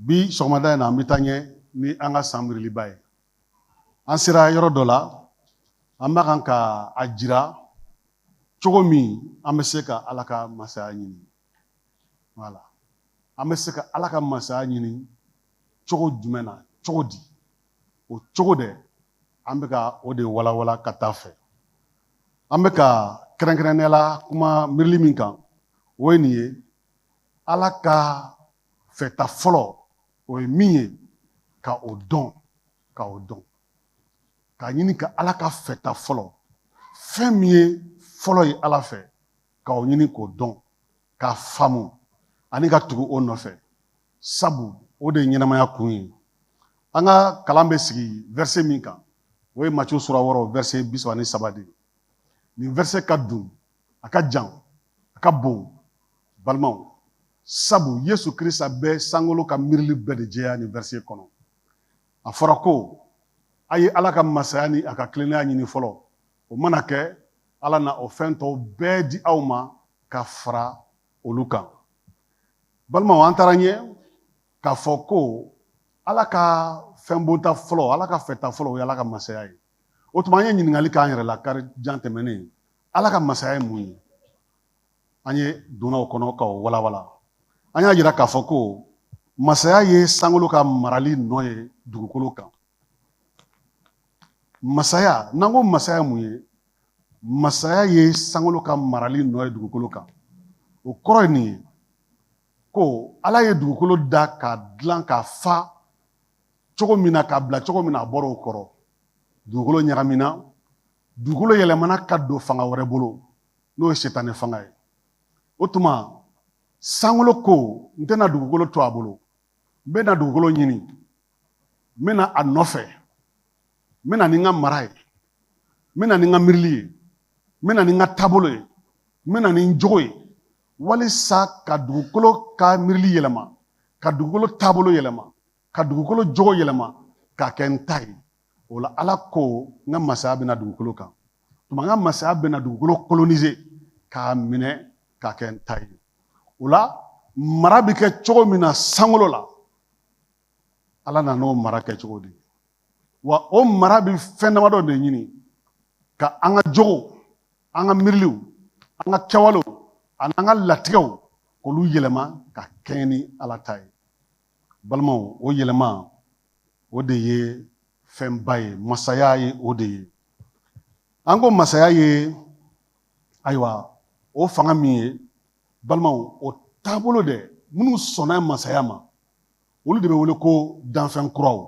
bi sɔgɔmada in na an bɛ taa ɲɛ ni an ka san miiriliba ye an sera yɔrɔ dɔ la an b'a kan ka a jira cogo min an bɛ se ka ala ka masaya ɲini wala an bɛ se ka ala ka masaya ɲini cogo jumɛn na cogo di o cogo de an bɛ ka o de walawala ka taa fɛ an bɛ ka kɛrɛnkɛrɛnnenya la kuma miirili min kan o ye nin ye ala ka fɛta fɔlɔ o ye min ye ka o dɔn ka o dɔn k'a ɲini ka ala ka fɛta fɔlɔ fɛn min ye fɔlɔ ye ala fɛ ka o ɲini k'o dɔn k'a faamu ani ka tugu o nɔfɛ sabu o de ye ɲɛnamaya kun ye an ka kalan bɛ sigi vɛrse min kan o ye maco sura wɔɔrɔ vɛrse bi saba ni saba de ye nin vɛrse ka dun a ka jan a ka bon balimaw sabu yesu krista bɛ sankolo ka miirili bɛɛ de jɛya nin vɛrisi kɔnɔ a fɔra ko a ye ala ka masaya ni a ka tilennenya ɲini fɔlɔ o mana kɛ ala na o fɛn tɔw bɛɛ di aw ma ka fara olu kan balimaw an taara ɲɛ k'a fɔ ko ala ka fɛn bonta fɔlɔ ala ka fɛta fɔlɔ o ye ala ka masaya ye o tuma an ye ɲininkali k'an yɛrɛ la kari don tɛmɛnen ala ka masaya ye mun ye an ye donna o kɔnɔ ka o walawala an y'a yira k'a fɔ ko masaya ye sankolo ka marali nɔ ye dugukolo kan masaya n'an ko masaya ye mun ye masaya ye sankolo ka marali nɔ ye dugukolo kan o kɔrɔ ye nin ye ko ala ye dugukolo da k'a dilan k'a fa cogo min na k'a bila cogo min na a bɔra o kɔrɔ dugukolo ɲagamina dugukolo yɛlɛmana ka don fanga wɛrɛ bolo n'o ye sitanɛ fanga ye o tuma sankolo ko n tɛna dugukolo to a bolo n bɛna dugukolo ɲini n bɛ na a nɔfɛ n bɛ na ni n ka mara ye n bɛ na ni n ka miirili ye n bɛ na ni n ka taabolo ye n bɛ na ni n jogo ye walisa ka dugukolo ka miirili yɛlɛma ka dugukolo taabolo yɛlɛma ka dugukolo jogo yɛlɛma k'a kɛ n ta ye o la ala ko n ka masaya bɛ na dugukolo kan tuma n ka masaya bɛna dugukolo kolonize k'a minɛ k'a kɛ n ta ye o la mara bɛ kɛ cogo min na sankolo la ala nan'o mara kɛcogo di wa o mara bɛ fɛn damadɔ de ɲini ka an ka jogow an ka miiriliw an ka kɛwalew ani an ka latigɛw k'olu yɛlɛma ka kɛɲɛ ni ala ta ye balimaw o yɛlɛma o de ye fɛnba ye masaya ye o de ye an ko masaya ye ayiwa o fanga min ye balimaw o taabolo dɛ minnu sɔnna masaya ma olu de bɛ wele ko danfɛn kuraw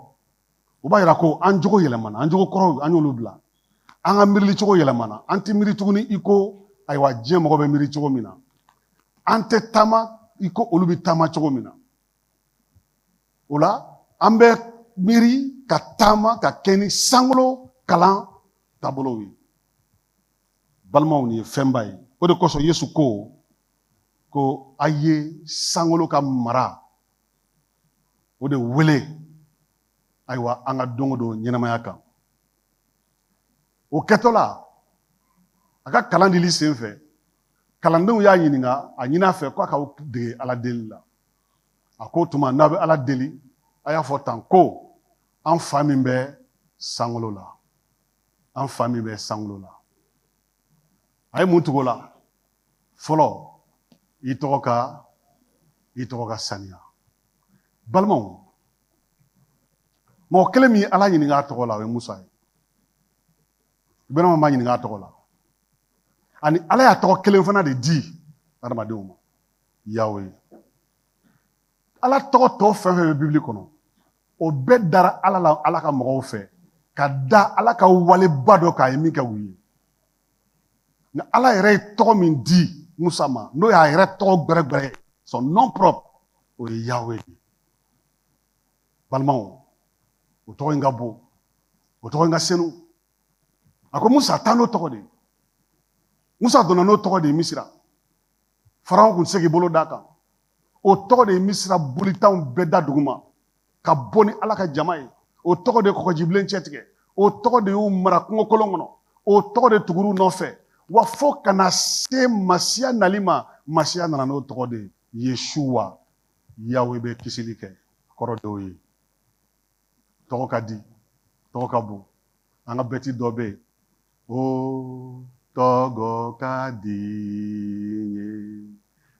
u b'a yira ko an jogo yɛlɛmana an jogo kɔrɔw an y'olu bila an ka miiri cogo yɛlɛmana an tɛ miiri tuguni i ko ayiwa diɲɛ mɔgɔ bɛ miiri cogo min na an tɛ taama i ko olu bɛ taama cogo min na o la an bɛ miiri ka taama ka kɛ ni sankolo kalan taabolow ye balimaw nin ye fɛnba ye o de kosɔn yesu ko ko a ye sankolo ka mara o de wele ayiwa an ka don o don ɲɛnamaya kan o kɛtɔ la a ka kalan dili sen fɛ kalandenw y'a ɲininka a ɲini a fɛ ko a k'aw dege ala deli la a k'o tuma n'a bɛ ala deli a y'a fɔ tan ko an fa min bɛ sankolo la an fa min bɛ sankolo la a ye mun tugu o la fɔlɔ i tɔgɔ ka i tɔgɔ ka saniya balimaw mɔgɔ kelen min y'ala ɲininka a tɔgɔ la o ye musa ye iburahima m'a ɲininka a tɔgɔ la ani ala y'a tɔgɔ kelen fana de di adamadenw ma yawe ala tɔgɔ tɔ fɛn o fɛn bɛ bibili kɔnɔ o bɛɛ dara ala la ala ka mɔgɔw fɛ ka da ala ka waleba dɔ kan a ye min kɛ u ye nka ala yɛrɛ ye tɔgɔ min di musa ma n'o y'a yɛrɛ tɔgɔ gbɛrɛgbɛrɛ ye son nom propre o ye yawe de balimaw o tɔgɔ in ka bon o tɔgɔ in ka senu a ko musa taa n'o tɔgɔ de musa donna n'o tɔgɔ de ye misira farawon kun tɛ se k'i bolo d'a kan o tɔgɔ de ye misira boli tanw bɛɛ da duguma ka bɔ ni ala ka jama ye o tɔgɔ de kɔgɔji bilen cɛtigɛ o tɔgɔ de y'u mara kungo kolon kɔnɔ o tɔgɔ de tugur'u nɔfɛ wa fo ka na se masiya nali ma masiya nana n'o tɔgɔ de ye yesuwa yawe bɛ kisili kɛ kɔrɔ d'o ye tɔgɔ ka di tɔgɔ ka bon an ka bɛti dɔ bɛ yen o tɔgɔ ka di ye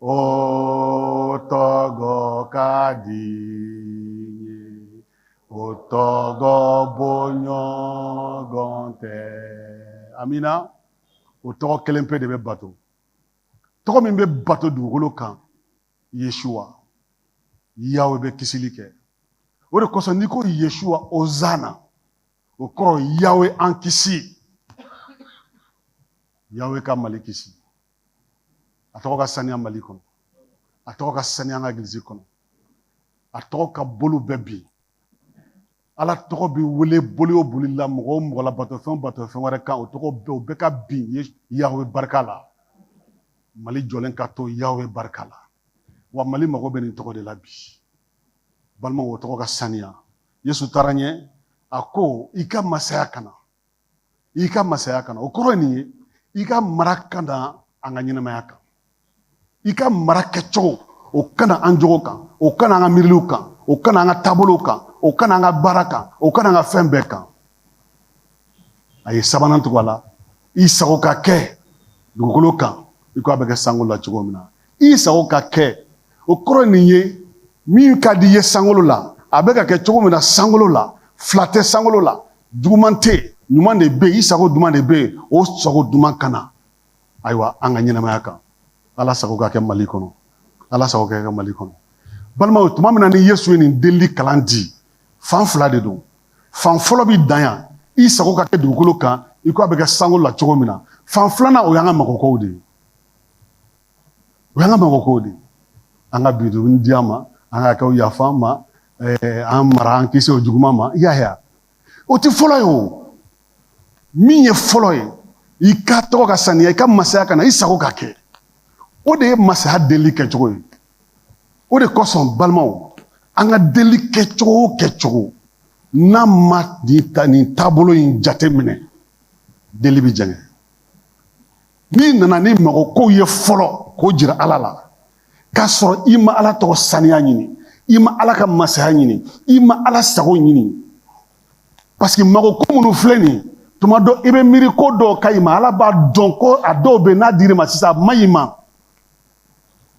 o tɔgɔ ka di o tɔgɔ bɔ ɲɔgɔn tɛ amina o tɔgɔ kelen pe de bɛ bato tɔgɔ min bɛ bato dugukolo kan yesua yawe bɛ kisili kɛ o de kosɔn n'i ko yesua ozana o kɔrɔ yawe an kisi yawe ka mali kisi a tɔgɔ ka saniya mali kɔnɔ a tɔgɔ ka saniya ka egilisi kɔnɔ a tɔgɔ ka boli bɛɛ bin ala tɔgɔ bɛ wele boli o boli la mɔgɔ o mɔgɔ la batofɛn batofɛn wɛrɛ kan o tɔgɔ bɛɛ o bɛɛ ka bin ye yawe barika la mali jɔlen ka to yawe barika la wa mali mago bɛ nin tɔgɔ de la bi balimaw o tɔgɔ ka saniya yesu taara ɲɛ a ko i ka masaya ka na i ka masaya ka na o kɔrɔ ye nin ye i ka mara ka na an ka ɲɛnamaya kan i ka mara kɛcogo o ka na an jogo kan o ka na an ka miiriliw kan o ka na an ka taabolow kan o ka na an ka baara kan o ka na an ka fɛn bɛɛ kan a ye sabanan tugu a la i sago ka kɛ dugukolo kan i ko a bɛ kɛ sankolo la cogo min na i sago ka kɛ o kɔrɔ nin ye min ka di i ye sankolo la a bɛ ka kɛ cogo min na sankolo la fila tɛ sankolo la juguman tɛ ɲuman de bɛ yen i sago duman de bɛ yen o sago duman ka na ayiwa an ka ɲɛnamaya kan ala sago ka kɛ mali kɔnɔ ala sago ka kɛ mali kɔnɔ balimaw tuma min na ni yesu ye nin delili kalan di fan fila de don fan fɔlɔ bɛ dan yan i sago ka kɛ dugukolo kan i ko a bɛ kɛ sankolo la cogo min na fan filanan o y'an ka mago kow de ye o y'an ka mago kow de ye an ka bi dunni di an ma an ka hakɛw yafa an ma eh, an mara an kisi o juguman ma i y'a ye o tɛ fɔlɔ ye o min ye fɔlɔ ye i ka tɔgɔ ka saniya i ka masaya ka na i sago ka kɛ o de ye masaya deli kɛcogo ye o de kosɔn balimaw an ka deli kɛcogo o kɛcogo n'a ma nin taabolo in jate minɛ deli bɛ jɛngɛ n'i nana ni mago kow ye fɔlɔ k'o jira ala la k'a sɔrɔ i ma ala tɔgɔ saniya ɲini i ma ala ka masaya ɲini i ma ala sago ɲini parce que mago ko minnu filɛ nin ye tuma dɔ i bɛ miiri ko dɔw ka ɲi i ma ala b'a dɔn ko a dɔw bɛ n'a dir'i ma sisan a man ɲi i ma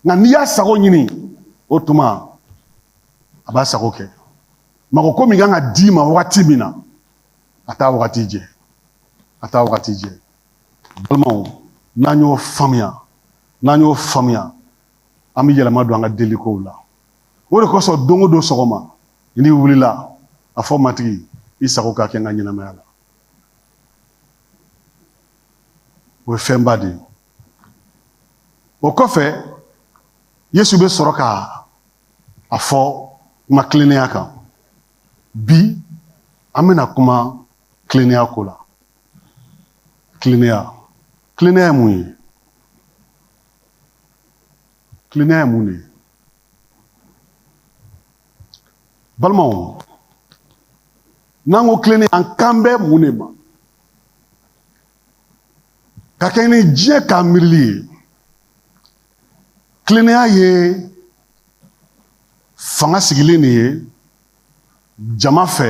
nka n'i y'a sago ɲini o tuma a b'a sago kɛ mago ko min ka kan ka d'i ma wagati min na a t'a wagati jɛ a t'a wagati jɛ balimaw n'an y'o faamuya n'an y'o faamuya an bɛ yɛlɛma don an ka delikow la o de kosɔn don o don sɔgɔma n'i wulila a fɔ matigi i sago ka kɛ n ka ɲɛnamaya la o ye fɛnba de ye o kɔfɛ yesu bɛ sɔrɔ ka a fɔ kuma kilennenya kan bi an bɛna kuma tilennenya ko la tilennenya tilennenya ye mun ye tilennenya ye mun de ye balimaw n'an ko tilennenya an kan bɛ mun de ma ka kɛɲɛ ni diɲɛ ka miirili ye tilennenya ye fanga sigilen de ye jama fɛ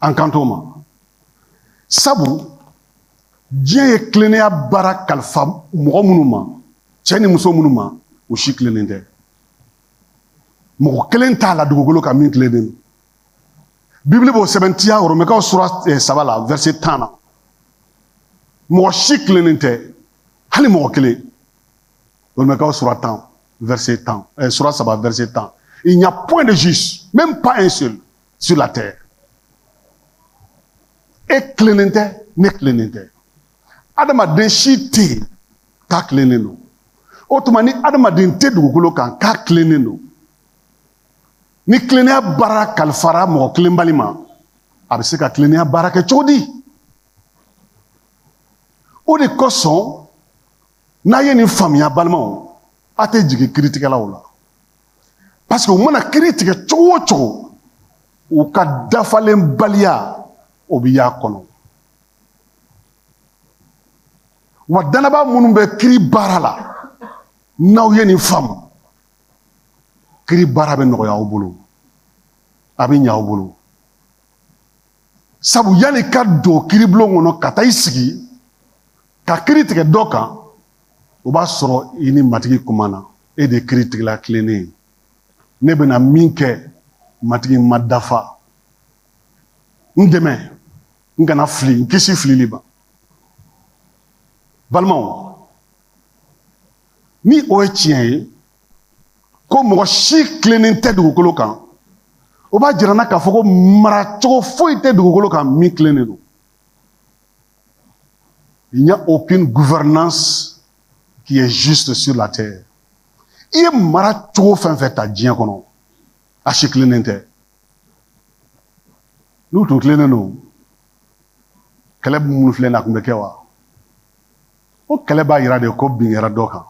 an kan o ma sabu diɲɛ ye tilennenya baara kalifa mɔgɔ minnu ma cɛ ni muso minnu ma u si tilennen tɛ mɔgɔ kelen t'a la dugukolo kan min tilennen don bibili b'o sɛbɛntiya oromɛkaw sura eh, saba la vɛrse tan na mɔgɔ si tilennen tɛ hali mɔgɔ kelen oromɛkaw sura tan vɛrse tan eh, sura saba vɛrse tan il n'y a point de juste même pas un seul sur la terre. E tilennen tɛ ne tilennen tɛ adamaden si tɛ yen k'a tilennen don o tuma ni adamaden tɛ dugukolo kan k'a tilennen don ni tilennenya baara kalifara mɔgɔ tilenbali ma a bɛ se ka tilennenya baara kɛ cogo di o de kosɔn n'a ye nin faamuya balimaw a tɛ jigi kiritigɛlaw la Parce que u mana kiri tigɛ cogo o cogo u ka dafalenbaliya o bɛ y'a kɔnɔ wa dannabaa minnu bɛ kiri baara la n'aw ye nin faamu kiri baara bɛ nɔgɔya aw bolo a bɛ ɲɛ aw bolo sabu yanni ka don kiribulon kɔnɔ ka taa i sigi ka kiri tigɛ dɔ kan o b'a sɔrɔ i ni matigi kumana e de kiritigɛla tilennen ye ne bɛna min kɛ matigi n ma dafa n dɛmɛ n kana fili n kisi filili ma balimaw ni o ye tiɲɛ ye ko mɔgɔ si tilennen tɛ dugukolo kan o b'a jira an na k'a fɔ ko maracogo foyi tɛ dugukolo kan min tilennen don Il n'y a aucune gouvernance qui est juste sur la terre. I ye maracogo fɛn fɛn ta diɲɛ kɔnɔ a si tilennen tɛ n'u tun tilennen don kɛlɛ minnu filɛ nin a tun bɛ kɛ wa o kɛlɛ b'a yira de ko bin kɛra dɔ kan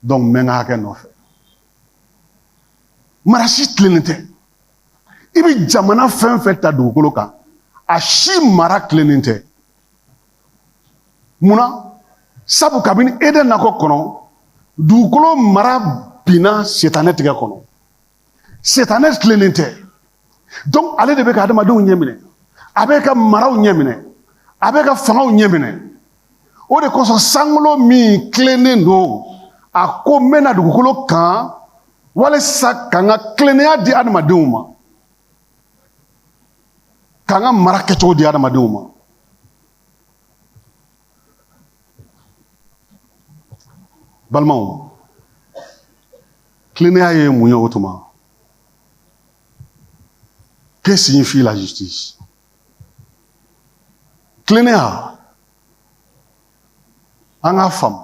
donc n bɛ n ka hakɛ nɔfɛ mara si tilennen tɛ i bɛ jamana fɛn fɛn ta dugukolo kan a si mara tilennen tɛ munna sabu kabini eden nakɔ kɔnɔ dugukolo mara binna sitanɛ tigɛ kɔnɔ sitanɛ tilennen tɛ donc ale de bɛ ka adamadenw ɲɛminɛ a bɛ ka maraw ɲɛminɛ a bɛ ka fangaw ɲɛminɛ o de kosɔn sankolo min tilennen don a ko n bɛ na dugukolo kan walisa ka n ka tilennenya di adamadenw ma ka n ka mara kɛcogo di adamadenw ma balimaw tilennenya ye mun ye o tuma que signifie la justice tilennenya an k'a faamu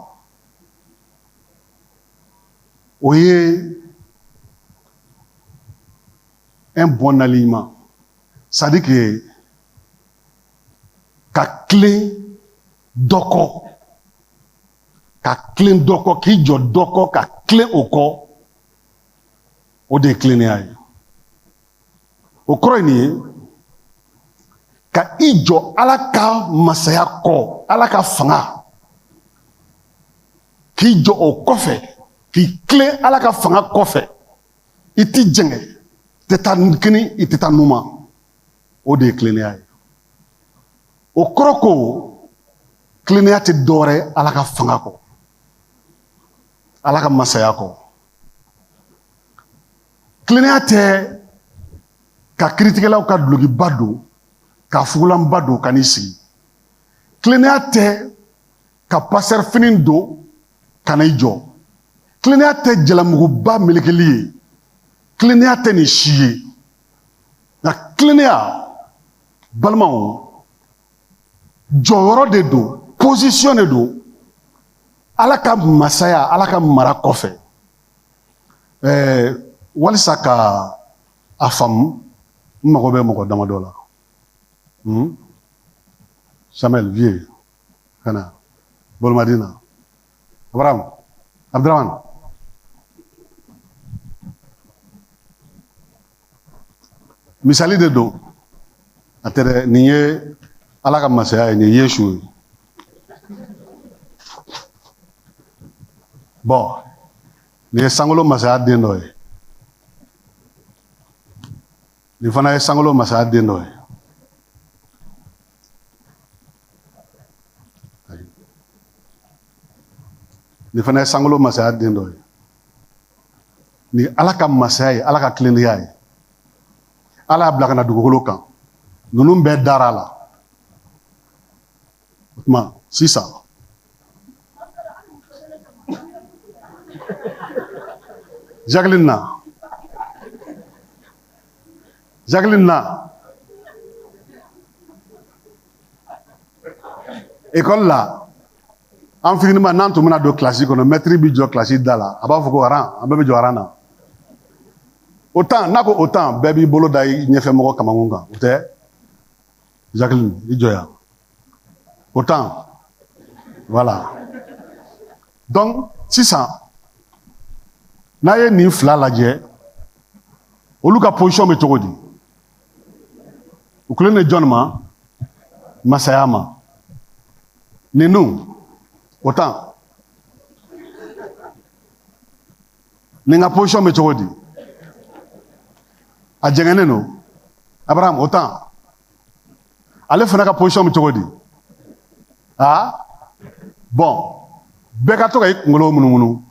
o ye un bon alignement c'est à dire que ka tilen dɔ kɔ ka tilen dɔ kɔ k'i jɔ dɔ kɔ ka tilen o kɔ o de ye tilennenya ye o kɔrɔ ye nin ye ka i jɔ ala ka masaya kɔ ala ka fanga k'i jɔ o kɔfɛ k'i tilen ala ka fanga kɔfɛ i t'i jɛngɛ tɛ taa kini i tɛ taa numa o de ye tilennenya ye o kɔrɔ ko tilennenya tɛ dɔwɛrɛ ye ala ka fanga kɔ ala ka masaya kɔ tilennenya tɛ ka kiritigɛlaw ka dulokiba don ka fugulanba don ka n'i sigi tilennenya tɛ ka pasitɛri fini don ka n'i jɔ tilennenya tɛ jalamuguba melekeli ye tilennenya tɛ nin si ye nka tilennenya balimaw jɔyɔrɔ de don posisiyɔn de don ala ka masaya ala ka mara kɔfɛ ɛɛ walisa ka a faamu n mago bɛ mɔgɔ damadɔ la hmm? samuel vieux ka na bolomadin na abraham abdurahman misali de don a tɛ dɛ nin ye ala ka masaya ye nin ye yesu ye bɔn nin ye sankolo masaya den dɔ ye nin fana ye sankolo masaya den dɔ ye nin fana ye sankolo masaya den dɔ ye Nin ye ala ka masaya ye ala ka tilennenya ye ala y'a bila ka na dugukolo kan ninnu bɛɛ dara a la o tuma sisan Jacqueline na Jacqueline na ekɔli la an fitinima n'an tun bɛna don kilasi kɔnɔ mɛtiri b'i jɔ kilasi da la a b'a fɔ ko aran an bɛɛ bɛ jɔ aran na o tan n'a ko o tan bɛɛ b'i bolo da i ɲɛfɛ mɔgɔ kamankun kan o tɛ jacqueline i jɔ yan o tan voilà donc sisan n'a ye nin fila lajɛ olu ka position bɛ cogo di u tilennen bɛ jɔn ma masaya ma ninnu o tan nin ka position bɛ cogo di a jɛngɛnnen don abraham o tan ale fana ka position bɛ cogo di aa bɔn bɛ ka to ka i kunkolo munumunu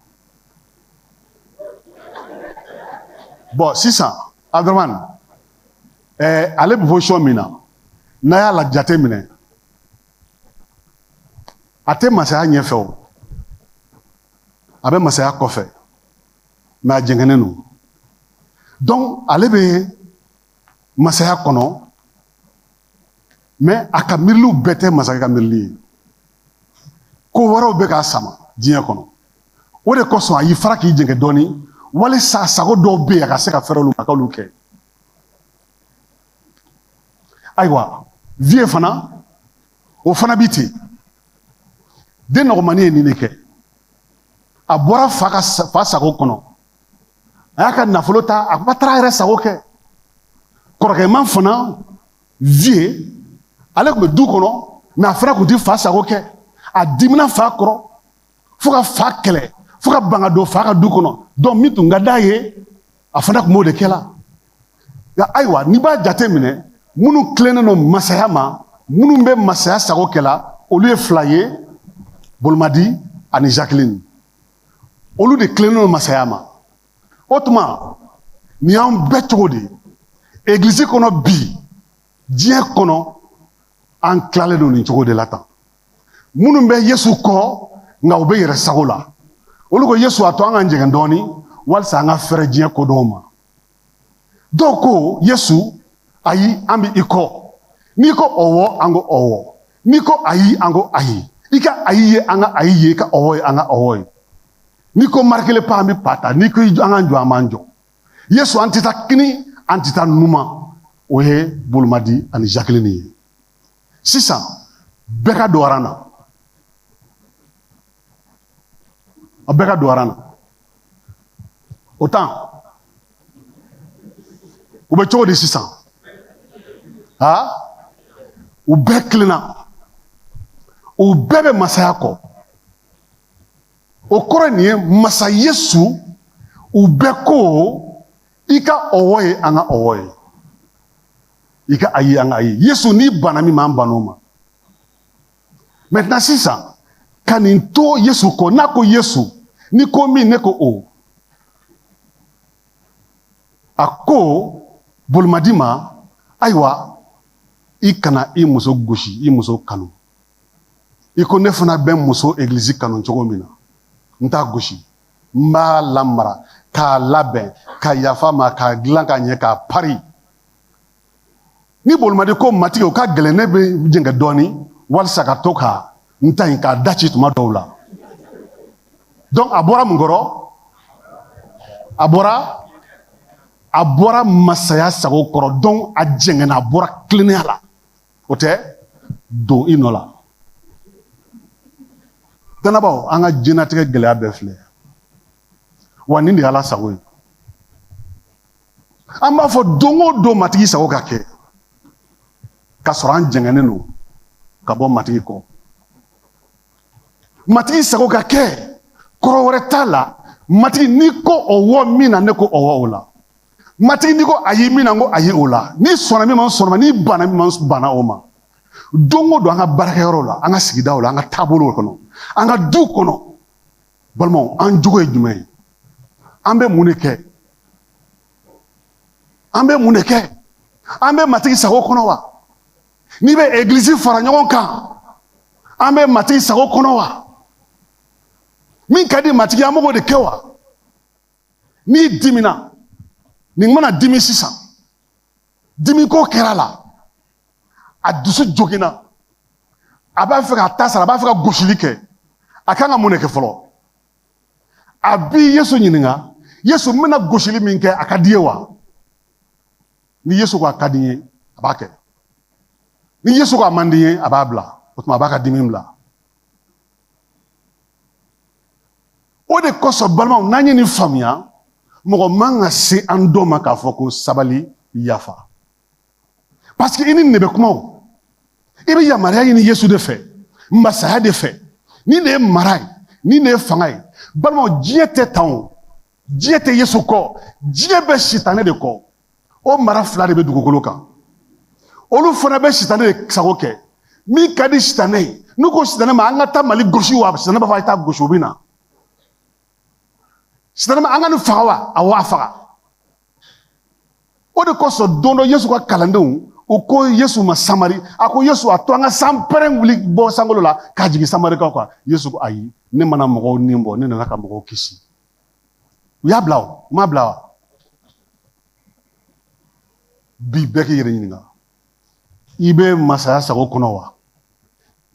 bɔn sisan aduramani ɛɛ ale bɛ position min na n'a y'a la jate minɛ a tɛ masaya ɲɛfɛ o a bɛ masaya kɔfɛ mɛ a jɛngɛnnen don dɔnku ale bɛ masaya kɔnɔ mɛ a ka miiriliw bɛɛ tɛ masakɛ ka miirili ye ko wɛrɛw bɛ k'a sama diɲɛ kɔnɔ o de kosɔn a y'i fara k'i jɛngɛ dɔɔnin walisa sago dɔw bɛ yen a ka se ka fɛrɛ olu ma k'olu kɛ ayiwa viye fana o fana bɛ ten den dɔgɔmani ye nin de kɛ a bɔra fa ka fa sago kɔnɔ a y'a ka nafolo ta a kuma taara yɛrɛ sago kɛ kɔrɔkɛman fana viye ale tun bɛ du kɔnɔ mɛ a fana tun tɛ fa sago kɛ a dimina fa kɔrɔ fo ka fa kɛlɛ fo ka ban ka don fa ka du kɔnɔ donc min tun ka d'a ye a fana tun b'o de kɛ la nka ayiwa n'i b'a jate minɛ minnu tilennen don masaya ma minnu bɛ masaya sago kɛ la olu ye fila ye bolomadi ani jacqueline olu de tilennen don masaya ma o tuma nin y'an bɛɛ cogo de ye egilizi kɔnɔ bi diɲɛ kɔnɔ an tilalen don nin cogo de la tan minnu bɛ yesu kɔ nka u bɛ yɛrɛ sago la olu ko yesu a to an ka jɛngɛn dɔɔnin walisa an ka fɛrɛ diɲɛ ko dɔw ma dɔw ko yesu ayi an bɛ i kɔ n'i ko ɔwɔ an ko ɔwɔ n'i ko ayi an ko ayi i ka ayi ye an ka ayi ye i ka ɔwɔ ye an ka ɔwɔ ye n'i ko marquez le pas an bɛ pas ta n'i ko an ka jɔ an b'an jɔ yesu an tɛ taa kini an tɛ taa numan o ye bolomadi ani zakilini ye sisan bɛɛ ka don aran na a bɛɛ ka don aran na o tan u bɛ cogo di sisan a u bɛɛ tilenna u bɛɛ bɛ masaya kɔ o kɔrɔ nin ye masa yesu u bɛɛ ko i ka ɔwɔ ye an ka ɔwɔ ye i ka ayi an ka ayi yesu n'i banna min m'an bann'o ma maintenant sisan ka nin to yesu kɔ n'a ko yesu n'i ko min ne ko o a ko bolomadi ma ayiwa i kana i muso gosi i muso kanu i ko ne fana bɛ n muso egilizi kanu cogo min na n t'a gosi n b'a lamara k'a labɛn ka yafa a ma k'a dilan ka ɲɛ k'a pari ni bolomadi ko matigi o ka gɛlɛn ne bɛ jɛngɛ dɔɔnin walisa ka to ka n ta in k'a da ci tuma dɔw la donc a bɔra mun kɔrɔ a bɔra a bɔra masaya sago kɔrɔ donc a jɛngɛnna a bɔra tilennenya la o tɛ don i nɔ la dannabaaw an ka diɲɛnatigɛ gɛlɛya bɛɛ filɛ wa nin de y'ala sago ye an b'a fɔ don o don matigi sago ka kɛ k'a sɔrɔ an jɛngɛnen don ka bɔ matigi kɔ matigi sago ka kɛ kɔrɔ wɛrɛ t'a la matigi n'i ko ɔwɔ min na ne ko ɔwɔ o la matigi n'i ko ayi min na n ko ayi o la n'i sɔnna min ma n sɔnna n'i banna min ma n banna o ma don o don an ka baarakɛyɔrɔw la an ka sigidaw la an ka taabolow kɔnɔ an ka du kɔnɔ balimaw an jogo ye jumɛn ye an bɛ mun de kɛ an bɛ mun de kɛ an bɛ matigi sago kɔnɔ wa n'i bɛ egilizi fara ɲɔgɔn kan an bɛ matigi sago kɔnɔ wa min ka di matigi ye an b'o de kɛ wa n'i dimina nin mana dimi sisan dimiko kɛr'a la a dusu joginna a b'a fɛ k'a ta sara a b'a fɛ ka gosili kɛ a kan ka mun de kɛ fɔlɔ a bi yesu ɲininka yesu n bɛna gosili min kɛ a ka di i ye wa ni yesu ko a ka di n ye a b'a kɛ ni yesu ko a man di n ye a b'a bila o tuma a b'a ka dimi bila o de kosɔn balimaw n'an ye nin faamuya mɔgɔ man ka se an dɔ ma k'a fɔ ko sabali yafa paseke i ni ne bɛ kuma i bɛ yamaruya ɲini yesu de fɛ masaya de fɛ nin de ye mara ye nin de ye fanga ye balimaw diɲɛ tɛ tan o diɲɛ tɛ yesu kɔ diɲɛ bɛ sitanɛ de kɔ o mara fila de bɛ dugukolo kan olu fana bɛ sitanɛ de sago kɛ min ka di sitanɛ ye n'u ko sitanɛ ma an ka taa mali gosi wa sitanɛ b'a fɔ a ye taa gosi u bɛ na sitanɛ ma an ka nin faga wa aw a faga o de kosɔn don dɔ yesu ka kalandenw u ko yesu ma samari a ko yesu a to an ka sanpɛrɛn wuli bɔ sankolo la k'a jigin samarikaw kan yesu ko ayi ne ma na mɔgɔw ni bɔ ne nana ka mɔgɔw kisi u y'a bila o u m'a bila wa bi bɛɛ k'i yɛrɛ ɲininka i bɛ masaya sago kɔnɔ wa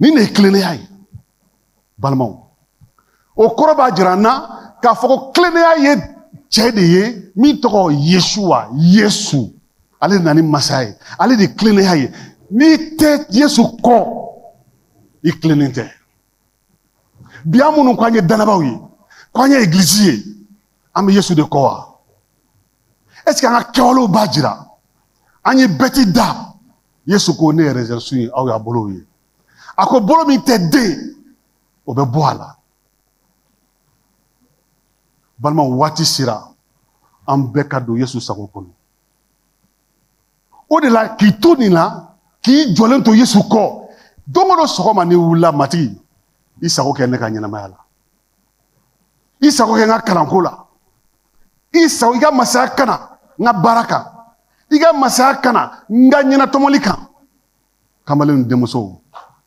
nin de ye tilennenya ye balimaw o kɔrɔ b'a jira an na k'a fɔ ko tilennenya ye cɛ de ye min tɔgɔ yesu wa yesu ale de nana ni masaya ye ale de ye tilennenya ye n'i tɛ yesu kɔ i tilennen tɛ bi an minnu ko an ye dannabaaw ye ko an ye egilizi ye an bɛ yesu de kɔ wa ɛseke an ka kɛwalew b'a jira an ye bɛti da yesu ko ne ye rezɛnsun ye aw y'a bolow ye a ko bolo min tɛ den o bɛ bɔ a la balima waati sera an bɛɛ ka don yesu sago kɔnɔ o de la k'i to nin na k'i jɔlen to yesu kɔ don o don sɔgɔma n'i wulila matigi i sago kɛ ne ka ɲɛnamaya la i sago kɛ n ka kalanko la i sago i ka masaya ka na n ka baara kan i ka masaya ka na n ka ɲɛnatɔmɔli kan kamalenw denmusow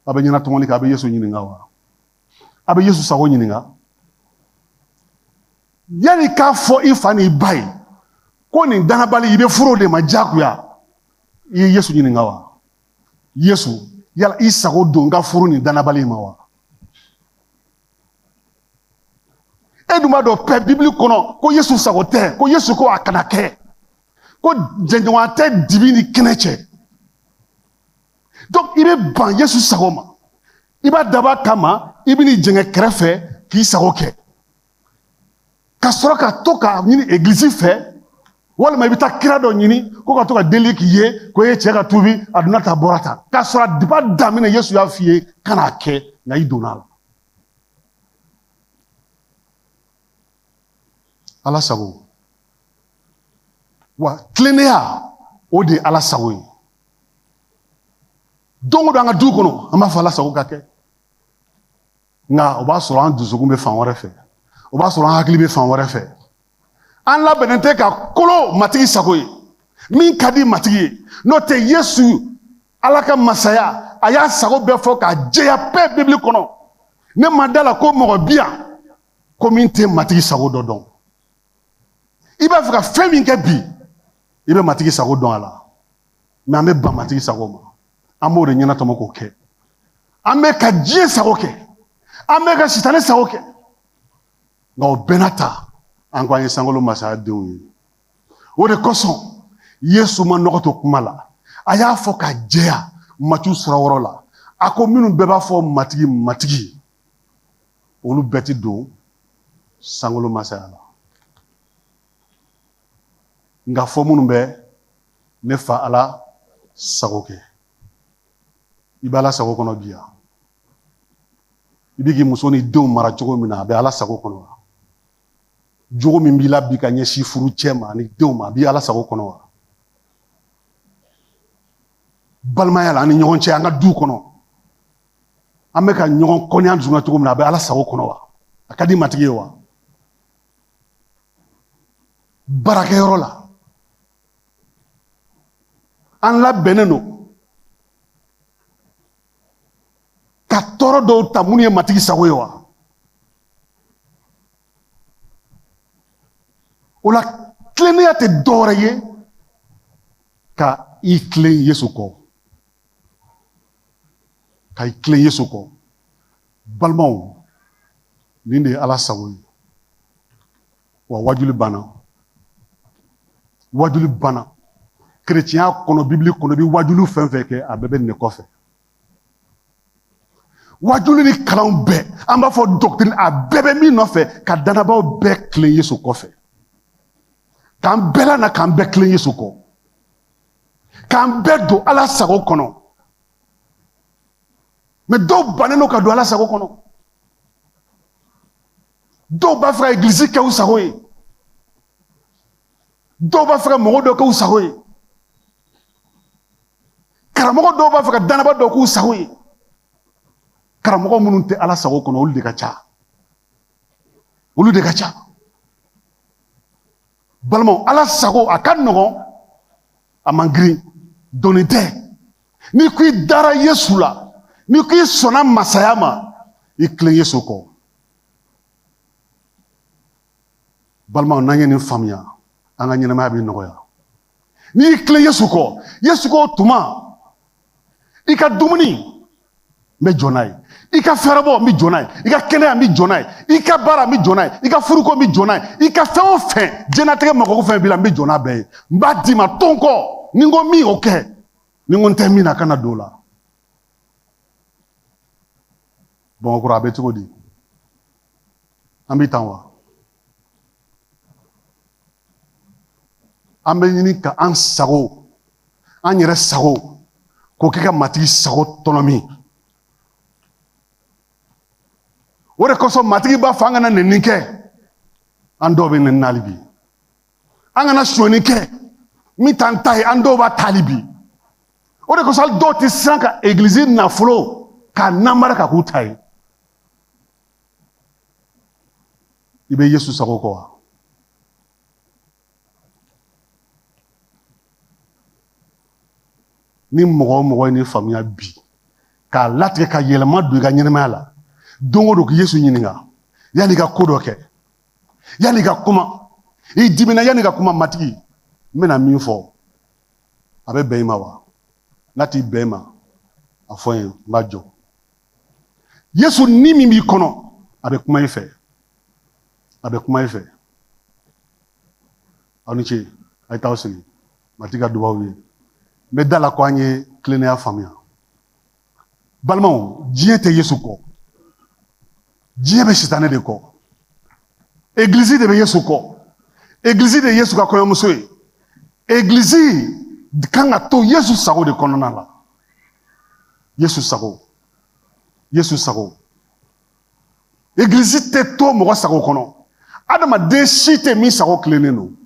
a bɛ ɲɛnatɔmɔli kan a bɛ yesu ɲininka wa a bɛ yesu sago ɲininka yanni k'a fɔ i fa n'i ba ye ko nin dannabali i bɛ furu de ma diyagoya i ye yesu ɲininka wa yesu yala i sago don n ka furu nin dannabali in ma wa e dun b'a dɔn pɛ bibili kɔnɔ ko yesu sago tɛ ko yesu ko a kana kɛ ko jɛɲɔgɔnya tɛ dibi ni kɛnɛ cɛ donc i bɛ ban yesu sago ma i b'a dab'a kama i bɛ n'i jɛngɛ kɛrɛfɛ k'i sago kɛ ka sɔrɔ ka to k'a ɲini egilizi fɛ walima i bɛ taa kira dɔ ɲini ko ka to ka deli k'i ye ko i cɛ ka tubi a donna tan bɔra tan k'a sɔrɔ a diba daminɛ yesu y'a f'i ye kan'a kɛ nka i donna a la ala sago wa tilennenya o de ye ala sago ye don o don an ka du kɔnɔ an b'a fɔ ala sago ka kɛ nka o b'a sɔrɔ an dusukun bɛ fan wɛrɛ fɛ o b'a sɔrɔ an hakili bɛ fan wɛrɛ fɛ an labɛnnen tɛ ka kolo matigi sago ye min ka di matigi ye n'o tɛ yesu ala ka masaya a y'a sago bɛɛ fɔ k'a jɛya bɛɛ bibili kɔnɔ ne ma da a la ko mɔgɔ bi yan ko min tɛ matigi sago dɔ dɔn i b'a fɛ ka fɛn min kɛ bi i bɛ matigi sago dɔn a la mɛ an bɛ ban matigi sago ma an b'o de ɲɛnatɔmɔ k'o kɛ an bɛ ka diɲɛ sago kɛ an bɛ ka sitanɛ sago kɛ nka o bɛɛ n'a ta an ko an ye sankolo masaya denw ye o de kosɔn yesu ma nɔgɔ to kuma la a y'a fɔ k'a jɛya matiyu sura wolonwula a ko minnu bɛɛ b'a fɔ matigi matigi olu bɛɛ ti don sankolo masaya la nka fɔ minnu bɛ ne fa ala sago kɛ i bɛ ala sago kɔnɔ bi yan i bɛ k'i muso ni denw mara cogo min na a bɛ ala sago kɔnɔ wa jogo min b'i la bi ka ɲɛsin furucɛ ma ani denw ma a bɛ ala sago kɔnɔ wa balimaya la an ni ɲɔgɔn cɛ an ka du kɔnɔ an bɛ ka ɲɔgɔn kɔniya dusukun na cogo min na a bɛ ala sago kɔnɔ wa a ka di matigi ye wa baarakɛyɔrɔ la an labɛnnen don ka tɔɔrɔ dɔw ta minnu ye matigi sago ye wa o la tilennenya tɛ dɔwɛrɛ ye ka i tilen yesu kɔ ka i tilen yesu kɔ balimaw nin de ye ala sago ye wa waajuli banna waajuli banna kerecɛnya kɔnɔ bibili kɔnɔ i bɛ waajuli fɛn o fɛn kɛ a bɛɛ bɛ nin de kɔfɛ waajuli ni kalanw bɛɛ an b'a fɔ doctrine a bɛɛ bɛ min nɔfɛ ka danabaaw bɛɛ tilen yesu kɔfɛ k'an bɛɛ lana k'an bɛɛ tilen yesu kɔ k'an bɛɛ don ala sago kɔnɔ mɛ dɔw bannen don ka don ala sago kɔnɔ dɔw b'a fɛ ka egilizi kɛ u sago ye dɔw b'a fɛ ka mɔgɔ dɔ k'u sago ye karamɔgɔ dɔw b'a fɛ ka danabaa dɔ k'u sago ye karamɔgɔ minnu tɛ ala sago kɔnɔ olu de ka ca olu de ka ca balimaw ala sago a ka nɔgɔn a man girin doni tɛ n'i ko i dara yesu la n'i ko i sɔnna masaya ma i tilen yesu kɔ balimaw n'an ye nin faamuya an ka ɲɛnɛmaya bɛ nɔgɔya n'i y'i tilen yesu kɔ yesu ko tuma i ka dumuni n bɛ jɔ n'a ye i ka fɛɛrɛbɔ n bɛ jɔ n'a ye i ka kɛnɛya n bɛ jɔ n'a ye i ka baara n bɛ jɔ n'a ye i ka furuko n bɛ jɔ n'a ye i ka fɛn o fɛn diɲɛnatigɛ mago fɛn b'i la n bɛ jɔ n'a bɛɛ ye n b'a d'i ma to n kɔ ni n ko min o kɛ ni n ko n tɛ min na kana don o la bamakɔrɔ a bɛ cogo di an bɛ tan wa an bɛ ɲini ka an sago an yɛrɛ sago k'o kɛ ka matigi sago tɔnɔmi o de kosɔn matigi b'a fɔ an kana nɛni kɛ an dɔw bɛ nɛni na hali bi an kana sonyani kɛ min t'an ta ye an dɔw b'a ta hali bi o de kosɔn hali dɔw tɛ siran ka egilizi nafolo k'a namara k'a k'u ta ye i bɛ yesu sago kɔ wa ni mɔgɔ o mɔgɔ ye nin faamuya bi k'a latigɛ ka yɛlɛma don i ka ɲɛnɛmaya la don o don ka yesu ɲininka yanni i ka ko dɔ kɛ Yanni ka kuma i dimina yanni ka kuma matigi n bɛna min fɔ a bɛ bɛn i ma wa n'a tɛ bɛn i ma a fɔ n ye n b'a jɔ yesu ni min b'i kɔnɔ a bɛ kuma i fɛ a bɛ kuma i fɛ aw ni ce a ye t'aw sigi matigi ka duba aw ye n bɛ da a la ko an ye tilennenya faamuya balimaw diɲɛ tɛ yesu kɔ diɲɛ bɛ sitanɛ de kɔ egilizi de bɛ yesu kɔ egilizi de ye yesu ka kɔɲɔmuso ye egilizi kan ka to yesu sago de kɔnɔna la yesu sago yesu sago egilizi tɛ to mɔgɔ sago kɔnɔ adamaden si tɛ min sago tilennen don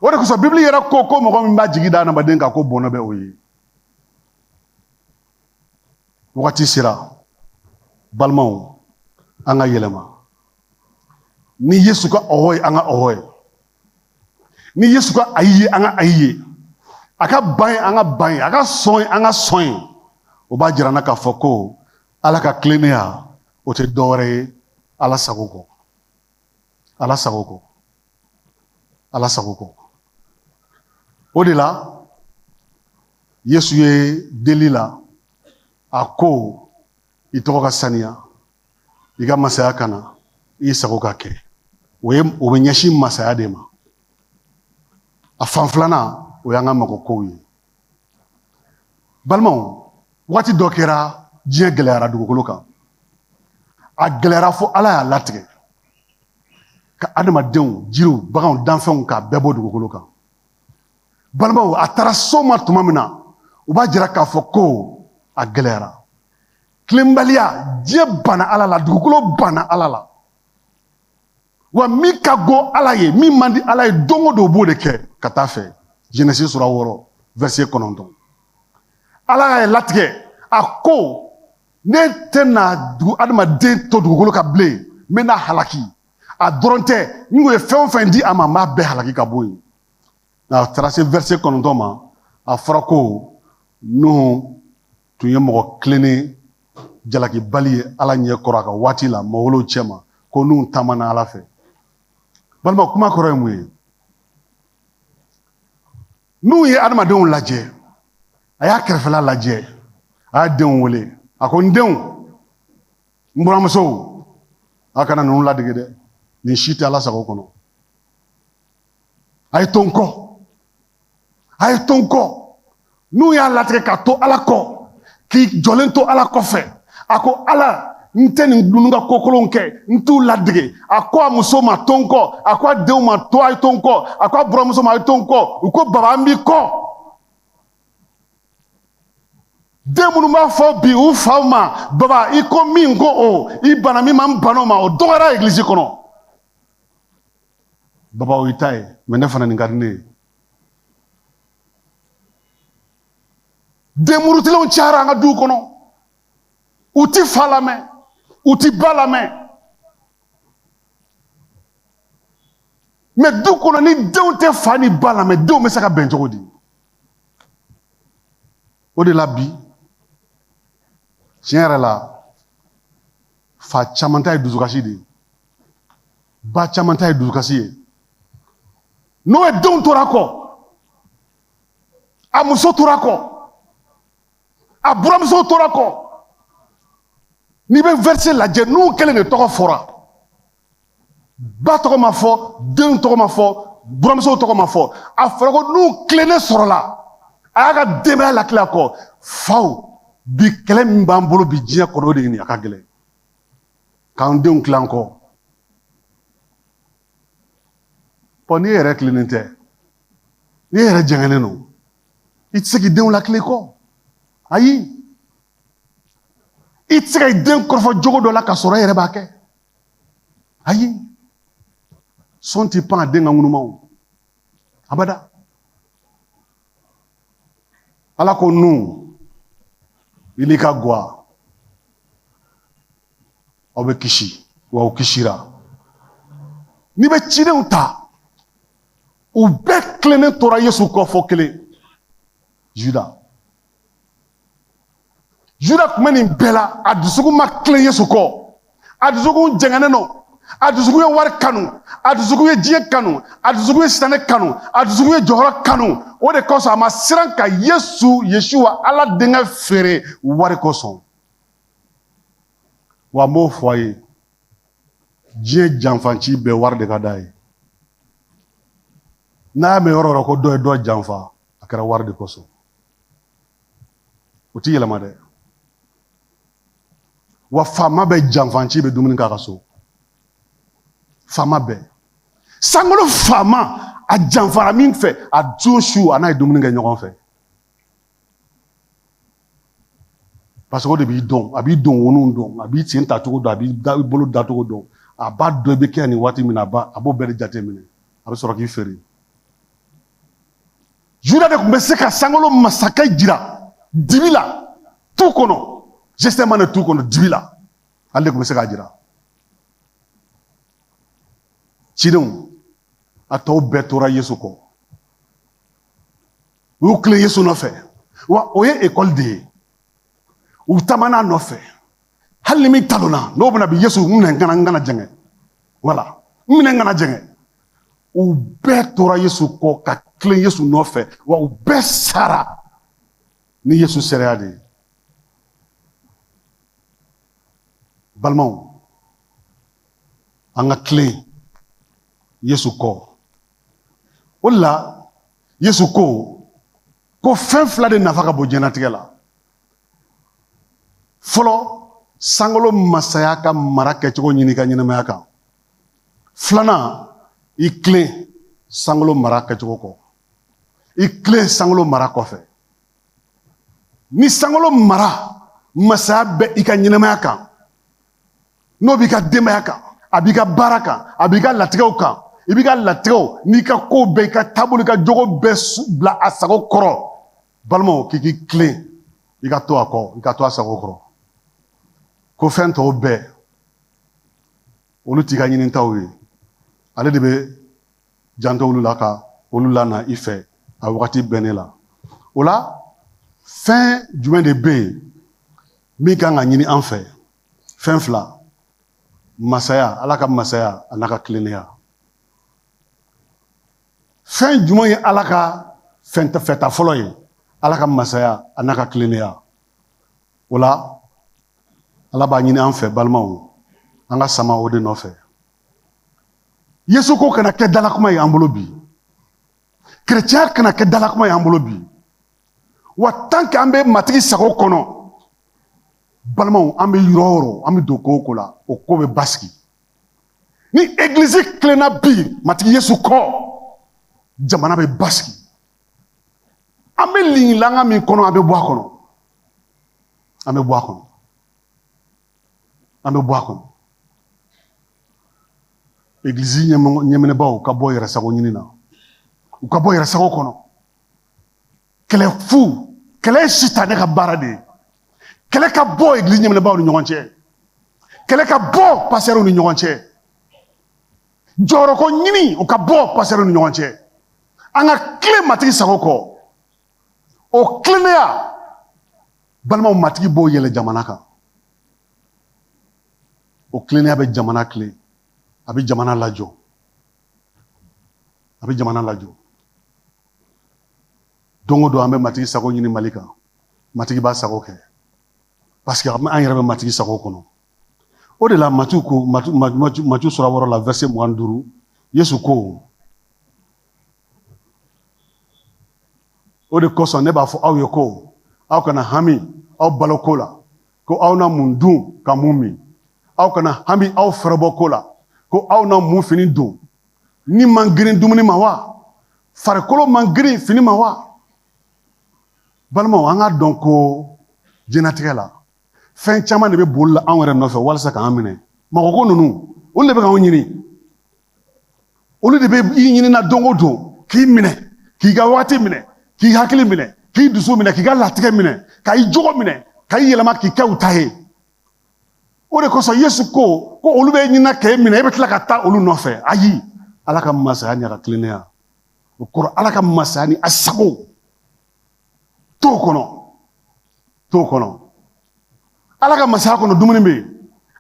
o de kosɔn bibili yɛrɛ ko ko mɔgɔ min b'a jigi da adamaden kan ko bɔnɛ bɛ o ye wagati sera balimaw an ka yɛlɛma ni yesu ka ɔhɔ ye an ka ɔhɔ ye ni yesu ka ayi ye an ka ayi ye a ka ban ye an ka ban ye a ka sɔn ye an ka sɔn ye o b'a jira an na k'a fɔ ko ala ka tilennenya o tɛ dɔwɛrɛ ye ala sago kɔ ala sago kɔ ala sago kɔ o de la yesu ye deli la a ko i tɔgɔ ka saniya i ka masaya ka na i sago ka kɛ o ye o bɛ ɲɛsin masaya de ma a fan filanan o y'an ka mago kow ye balimaw waati dɔ kɛra diɲɛ gɛlɛyara dugukolo kan a gɛlɛyara fo ala y'a latigɛ ka adamadenw jiriw baganw danfɛnw k'a bɛɛ bɔ dugukolo kan balimaw a taara s'o ma tuma min na u b'a jira k'a fɔ ko a gɛlɛyara tilenbaliya diɲɛ banna ala la dugukolo banna ala la wa min ka go ala ye min man di ala ye don o don b'o de kɛ ka taa fɛ jenesi sura wɔɔrɔ vɛrisiye kɔnɔntɔn ala y'a latigɛ a ko ne tɛna dugu adamaden to dugukolo kan bilen n bɛn'a halaki a dɔrɔn tɛ n ko ye fɛn o fɛn di a ma n b'a bɛɛ halaki ka bɔ yen nka a taara se vɛrisiye kɔnɔntɔn ma a fɔra ko nuhu tun ye mɔgɔ tilennen jalakibali ye ala ɲɛ kɔrɔ a ka waati la mɔgɔw olu cɛma ko nuhu taamana ala fɛ balima kuma kɔrɔ ye mun ye nuhu ye adamadenw lajɛ a y'a kɛrɛfɛla lajɛ a y'a denw wele a ko n denw n buramusow a kana ninnu ladege dɛ nin si tɛ ala sago kɔnɔ a ye to n kɔ a ye to n kɔ nuhu y'a latigɛ ka to ala kɔ k'i jɔlen to ala kɔfɛ a ko ala n tɛ ninnu ka kokolonw kɛ n t'u ladege a ko a muso ma to n kɔ a ko a denw ma to a ye to n kɔ a ko a buramusow ma a ye to n kɔ u ko baba an b'i kɔ den minnu b'a fɔ bi u faw ma baba i ko min n ko o i banna min ma n banna o ma o dɔgɔyara egilizi kɔnɔ baba i ta ye mɛ ne fana nin ka di ne ye denmurutilenw cayara an ka duw kɔnɔ u ti fa lamɛn u ti ba lamɛn mɛ du kɔnɔ ni denw tɛ fa ni ba lamɛn denw bɛ se ka bɛn cogo di o de la bi tiɲɛ yɛrɛ la fa caman ta ye dusukasi de ye ba caman ta ye dusukasi ye nuhu denw tora a kɔ a muso tora a kɔ a buramusow tora a kɔ n'i bɛ vɛrisi lajɛ nuhu kelen de tɔgɔ fɔra ba tɔgɔ ma fɔ denw tɔgɔ ma fɔ buramusow tɔgɔ ma fɔ a fɔra ko nuhu tilennen sɔrɔla a y'a ka denbaya latilen a kɔ faw bi kɛlɛ min b'an bolo bi diɲɛ kɔnɔ o de ye nin ye a ka gɛlɛn k'an denw tilen an kɔ ɔ n'i yɛrɛ tilennen tɛ n'i yɛrɛ jɛngɛnnen don i tɛ se k'i denw lakilen i kɔ ayi i tɛ se ka i den kɔrɔfɔ jogo dɔ la ka sɔrɔ e yɛrɛ b'a kɛ ayi son t'i pan a den ka ŋunuma abada ala ko nu i n'i ka gwa aw bɛ kisi wa aw kisira n'i bɛ cidenw ta u bɛɛ tilennen tora yesu kɔ fɔ kelen juda juda tun bɛ nin bɛɛ la a dusukun ma tilen yesu kɔ a dusukun jɛngɛnen don a dusukun ye wari kanu a dusukun ye diɲɛ kanu a dusukun ye sitanɛ kanu a dusukun ye jɔyɔrɔ kanu o de kosɔn a ma siran ka yesu yesuwa ala denkɛ feere wari kosɔn wa n b'o fɔ a ye diɲɛ janfanci bɛɛ wari de ka d'a ye n'a y'a mɛn yɔrɔ yɔrɔ ko dɔ ye dɔ janfa a kɛra wari de kosɔn o ti yɛlɛma dɛ wa faama bɛɛ janfanci bɛ dumuni k'a ka so faama bɛɛ sankolo faama a janfara min fɛ a don su a n'a ye dumuni kɛ ɲɔgɔn fɛ parce que o de b'i dɔn a b'i don wonunw dɔn a b'i sen tacogo dɔn a b'i da i bolo dacogo dɔn a b'a dɔn i bɛ kɛ nin waati min na a b'a a b'o bɛɛ de jateminɛ a bɛ sɔrɔ k'i feere juda de tun bɛ se ka sankolo masakɛ jira dibi la tu kɔnɔ jɛsemane tu kɔnɔ dibi la ale de tun bɛ se k'a jira cidenw a tɔw bɛɛ tora yesu kɔ u y'u tilen yesu nɔfɛ wa o ye ekɔli de ye u taamana nɔfɛ hali ni min talonna n'o bɛna bin yesu n minɛ n kana n kana jɛngɛ wala n minɛ n kana jɛngɛ u bɛɛ tora yesu kɔ ka tilen yesu nɔfɛ wa u bɛɛ sara ni yesu seereya de ye balimaw an ka tilen yesu kɔ o de la yesu ko ko fɛn fila de nafa ka bon diɲɛnatigɛ la fɔlɔ sankolo masaya ka mara kɛcogo ɲini i ka ɲɛnamaya kan filanan i tilen sankolo mara kɛcogo kɔ i tilen sankolo mara kɔfɛ ni sankolo mara masaya bɛ i ka ɲɛnamaya kan n'o b'i ka denbaya kan a b'i ka baara kan a b'i ka latigɛw kan i b'i ka latigɛw n'i ka kow bɛɛ i ka taabolo i ka jogo bɛɛ bila a sago kɔrɔ balimaw k'i k'i tilen i ka to a kɔ i ka to a sago kɔrɔ ko fɛn tɔw bɛɛ olu t'i ka ɲinitaw ye ale de bɛ janto olu la ka olu lana i fɛ a wagati bɛnnen la o la fɛn jumɛn de bɛ yen min kan ka ɲini an fɛ fɛn fila masaya ala ka masaya an'a ka tilennenya fɛn jumɛn ye ala ka fɛn fɛta fɔlɔ ye ala ka masaya an'a ka tilennenya o la ala b'a ɲini an fɛ balimaw an ka sama o de nɔfɛ yesu ko kana kɛ dalakuma ye an bolo bi kerecɛnya kana kɛ dalakuma ye an bolo bi wa tant que an bɛ matigi sago kɔnɔ balimaw an bɛ yɔrɔ o yɔrɔ an bɛ don ko o ko la o ko bɛ basigi ni egilizi tilenna bi matigi yesu kɔ jamana bɛ basigi an bɛ lingilanga min kɔnɔ an bɛ bɔ a kɔnɔ an bɛ bɔ a kɔnɔ an bɛ bɔ a kɔnɔ egilizi ɲɛminɛbaaw ka bɔ yɛrɛ sago ɲini na u ka bɔ yɛrɛ sago kɔnɔ kɛlɛ fu kɛlɛ ye sitanɛ ka baara de ye kɛlɛ ka bɔ egilizi ɲɛminɛbaaw ni ɲɔgɔn cɛ kɛlɛ ka bɔ pasitɛriw ni ɲɔgɔn cɛ jɔyɔrɔko ɲini o ka bɔ pasitɛriw ni ɲɔgɔn cɛ an ka tilen matigi sago kɔ o tilennenya balimaw matigi b'o yɛlɛ jamana kan o tilennenya bɛ jamana tilen a bɛ jamana lajɔ a bɛ jamana lajɔ don o don an bɛ matigi sago ɲini mali kan matigi b'a sago kɛ paseke an yɛrɛ bɛ matigi sago kɔnɔ o de la matiyu ko matiyu sura wɔɔrɔ la vɛrisɛ mugan ni duuru yesu ko o de kosɔn ne b'a fɔ aw ye ko aw kana hami aw baloko la ko aw na mun dun ka mun min aw kana hami aw fɛrɛbɔ ko la ko aw na mun fini don ni man girin dumuni ma wa farikolo man girin fini ma wa balimaw an k'a dɔn ko jɛnatigɛ la fɛn caman de bɛ boli la anw yɛrɛ nɔfɛ walasa k'an minɛ mɔgɔko ninnu olu de bɛ k'anw ɲini olu de bɛ i ɲini na don o don k'i minɛ k'i ka wagati minɛ k'i hakili minɛ k'i dusu minɛ k'i ka latigɛ minɛ ka i jogo minɛ ka i yɛlɛma k'i kɛ u ta ye o de kosɔn yesu ko ko olu bɛ ɲini na k'e minɛ e bɛ tila ka taa olu nɔfɛ ayi ala ka masaya ni a ka tilennenya o kɔrɔ ala ka masaya ni a sago t'o kɔnɔ t'o kɔnɔ ala ka masaya kɔnɔ dumuni bɛ yen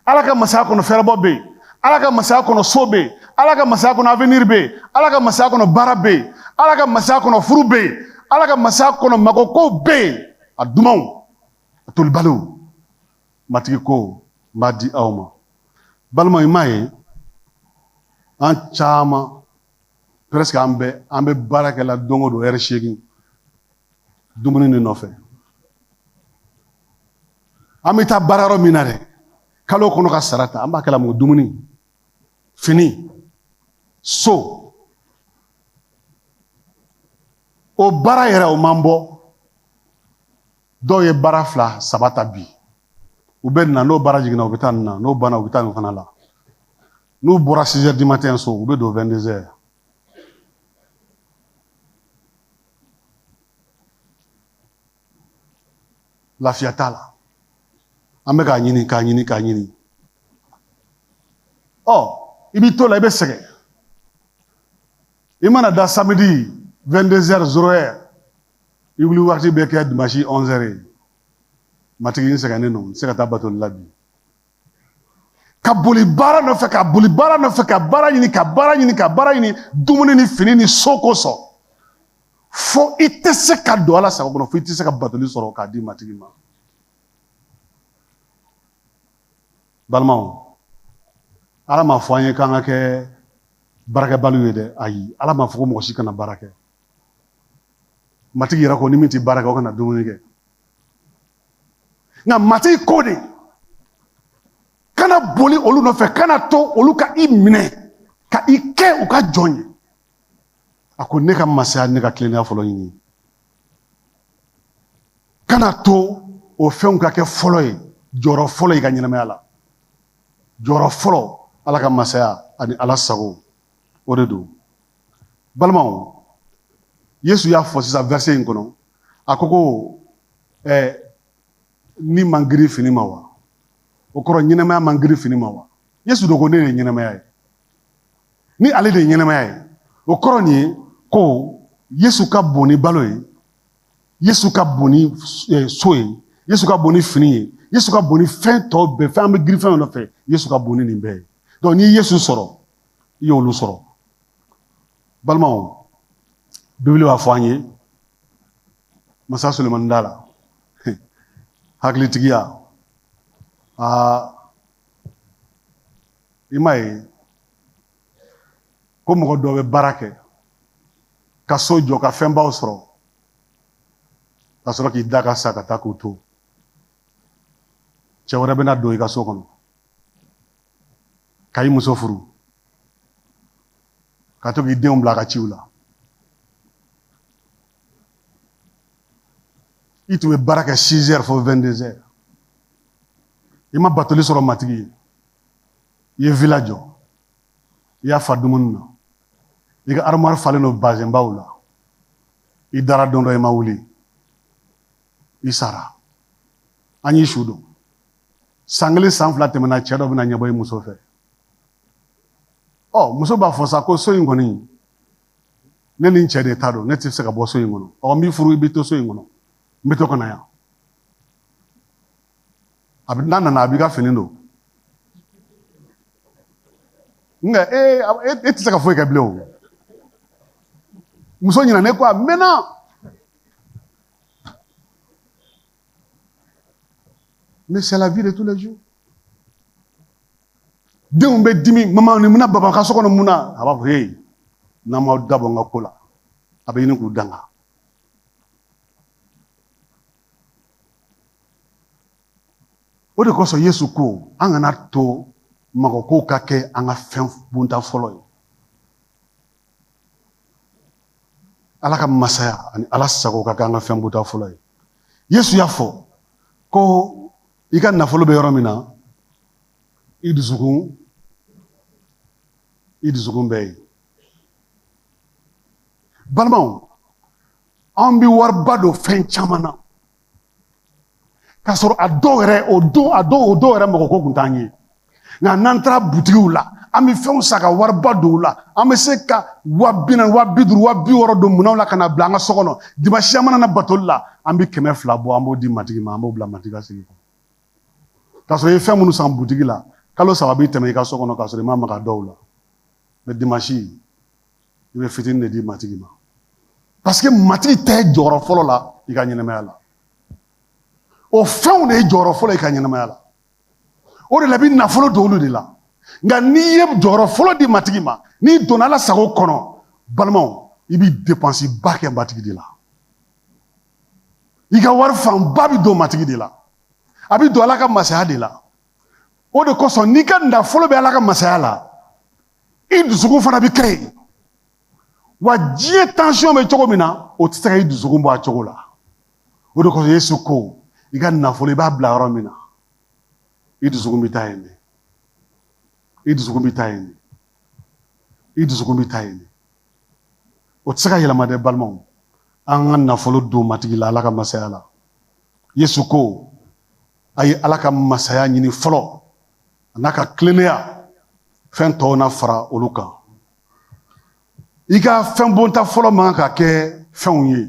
ala ka masaya kɔnɔ fɛrɛbɔ bɛ yen ala ka masaya kɔnɔ so bɛ yen ala ka masaya kɔnɔ avenir bɛ yen ala ka masaya kɔnɔ baara bɛ yen ala ka masaya kɔnɔ furu bɛ yen ala ka masaya kɔnɔ mago kow bɛ yen a dumanw a tolibaliw matigi ko n b'a di aw ma balima i m'a ye an caman presque an bɛɛ an bɛ baara kɛla don o don ɛri seegin dumuni de nɔfɛ an bɛ taa baara yɔrɔ min na dɛ kalo kɔnɔ ka sara ta an b'a kɛla mun kɔ dumuni fini so o baara yɛrɛ o m'an bɔ dɔw ye baara fila saba ta bi u bɛ nin na n'o baara jiginna u bɛ taa nin na n'o banna u bɛ taa nin fana la n'u bɔra 6 heures du matin u bɛ don 22 heures lafiya t'a la an bɛ k'a ɲini k'a ɲini k'a ɲini ɔ i b'i to la i bɛ sɛgɛn i mana da samedi 22 heures zéro heure i wuli waati bɛ kɛ dimanche 11 heures ye matigi n sɛgɛnnen don n tɛ se ka taa batoli la bi ka boli baara nɔfɛ ka boli baara nɔfɛ ka baara ɲini ka baara ɲini ka baara ɲini dumuni ni fini ni so kosɔn fo i tɛ se ka don ala sago kɔnɔ fo i tɛ se ka batoli sɔrɔ k'a di matigi ma balimaw ala ma fɔ an ye k'an ka kɛ baarakɛbaliw ye dɛ ayi ala ma fɔ ko mɔgɔ si kana baara kɛ matigi yɛrɛ ko ni min tɛ baara kɛ o kana dumuni kɛ nka matigi ko de kana boli olu nɔfɛ kana to olu ka i minɛ ka i kɛ u ka jɔn ye a ko ne ka masaya ne ka tilennenya fɔlɔ ɲini kana to o fɛnw ka kɛ fɔlɔ ye jɔyɔrɔ fɔlɔ i ka ɲɛnamaya la jɔyɔrɔ fɔlɔ ala ka masaya ani ala sago o de don balimaw yesu y'a fɔ sisan verset in kɔnɔ a ko ko ɛɛ ni man giri fini ma wa o kɔrɔ ɲɛnamaya man giri fini ma wa yesu dun ko ne de ye ɲɛnamaya ye ni ale de ye ɲɛnamaya ye o kɔrɔ nin ye ko yesu ka bon ni balo ye yesu ka bon ni eh, so ye yesu ka bon ni fini ye yesu ka bon ni fɛn tɔw bɛɛ fɛn an bɛ giri fɛn nɔfɛ yesu ka bon ni nin bɛɛ ye donc n'i ye yesu sɔrɔ i y'olu sɔrɔ balimaw bibili b'a fɔ an ye masa solomani da la hakilitigiya aa i m'a ye ko mɔgɔ dɔ bɛ baara kɛ ka so jɔ ka fɛnbaw sɔrɔ ka sɔrɔ k'i da ka sa ka taa k'u to cɛ wɛrɛ bɛna don i ka so kɔnɔ ka i muso furu ka to k'i denw bila a ka ciw la i tun bɛ baara kɛ six heures fo vingt-deux heures i ma batoli sɔrɔ matigi ye i ye vila jɔ i y'a fa dumuni na i ka armoire falen don bazɛnbaw la i dara don dɔ i ma wuli i sara an y'i su don san kelen san fila tɛmɛna cɛ dɔ bɛna ɲɛbɔ i muso fɛ ɔ muso b'a fɔ sa ko so in kɔni ne ni n cɛ de ta don ne tɛ se ka bɔ so in kɔnɔ ɔ n b'i furu i bɛ to so in kɔnɔ n bɛ to ka na yan a bɛ n'a nana a b'i ka fini don nka e e tɛ se ka foyi kɛ bilen o muso ɲinɛna i kɔ a mɛnna Mais c'est la vie de tous les jours. denw bɛ dimi mama nin bɛ na baba ka so kɔnɔ mun na a b'a fɔ ee n'aw m'aw da bɔ n ka ko la a bɛ ɲini k'u danga o de kosɔn yesu ko an kana to magokow ka kɛ an ka fɛn bonyata fɔlɔ ye ala ka masaya ani ala sago ka kɛ an ka fɛn bonyata fɔlɔ ye yesu y'a fɔ ko i ka nafolo bɛ yɔrɔ min na i dusukun i dusukun bɛ yen balimaw an bɛ wariba don fɛn caman na Ka sɔrɔ a dɔw yɛrɛ o don a dɔw o dɔw yɛrɛ magoko tun t'an ye nka n'an taara butigiww la an bɛ fɛnw san ka wariba don u la an bɛ se ka waa biduuru waa biwɔɔrɔ don minnu la ka na bila an ka so kɔnɔ dimasi mana na batoli la an bɛ kɛmɛ fila bɔ an b'o di matigi ma an b'o bila matigi segi kɔnɔ ka sɔrɔ i ye fɛn minnu san butigi la kalo saba bɛ tɛmɛ i ka so kɔnɔ ka sɔrɔ i ma maga a dɔw la mais dimasi i bɛ fitinin de di matigi ma parce que matigi tɛ jɔyɔrɔ fɔlɔ la i ka ɲɛnamaya la o fɛnw de ye jɔyɔrɔ fɔlɔ i ka ɲɛnamaya la o de la i bɛ nafolo don olu de la nka n'i ye jɔyɔrɔ fɔlɔ di matigi ma n'i donna ala sago kɔnɔ balimaw i bɛ depansiba kɛ matigi de la i ka wari fanba bɛ don matigi de la a bɛ don ala ka masaya de la o de kosɔn n'i ka nafolo bɛ ala ka masaya la i dusukun fana bɛ kɛ yen wa diɲɛ tansiyɔn bɛ cogo min na o tɛ se ka i dusukun bɔ a cogo la o de kosɔn yesu ko i ka nafolo i b'a bila yɔrɔ min na i dusukun bɛ taa yen de i dusukun bɛ taa yen de i dusukun bɛ taa yen de o tɛ se ka yɛlɛma dɛ balimaw an ka nafolo don matigi la ala ka masaya la yesu ko a ye ala ka masaya ɲini fɔlɔ a n'a ka tilennenya fɛn tɔw na fara olu kan i ka fɛn bonta fɔlɔ man kan ka kɛ fɛnw ye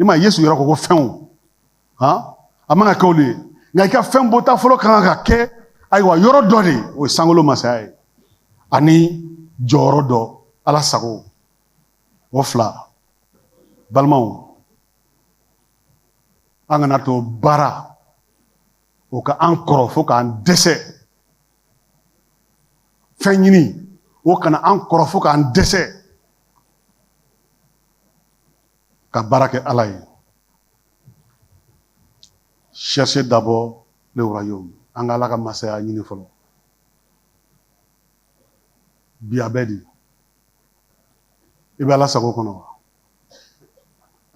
i ma yesu yɛrɛ ko ko fɛnw han a man ka kɛ olu ye nka i ka fɛn bonta fɔlɔ ka kan ka kɛ ayiwa yɔrɔ dɔ de o ye sankolo masaya ye ani jɔyɔrɔ dɔ ala sago o fila balimaw an kana to baara o ka an kɔrɔ fo k'an dɛsɛ fɛn ɲini o kana an kɔrɔ fo k'an dɛsɛ ka baara kɛ ala ye cherchez d'abord le royaume an ka ala ka masaya ɲini fɔlɔ bi a bɛ di i bɛ ala sago kɔnɔ wa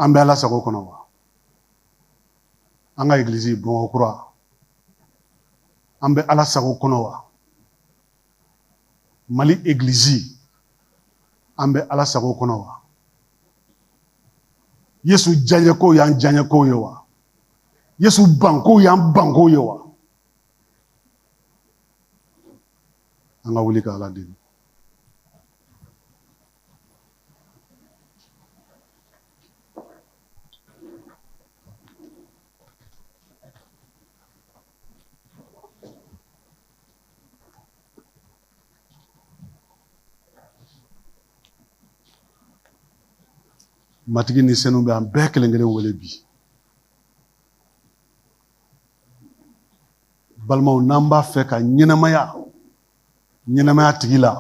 an bɛ ala sago kɔnɔ wa an ka egiliz bamakɔ kura an bɛ ala sago kɔnɔ wa mali egiliz an bɛ ala sago kɔnɔ wa yesu diyanyekow y'an diyanyekow ye wa yesu bankow y'an bankow ye wa an ka wuli ka ala deli Matigi ni senu bɛ an bɛɛ kelen kelen wele bi balimaw n'an b'a fɛ ka ɲɛnamaya ɲɛnamaya tigi la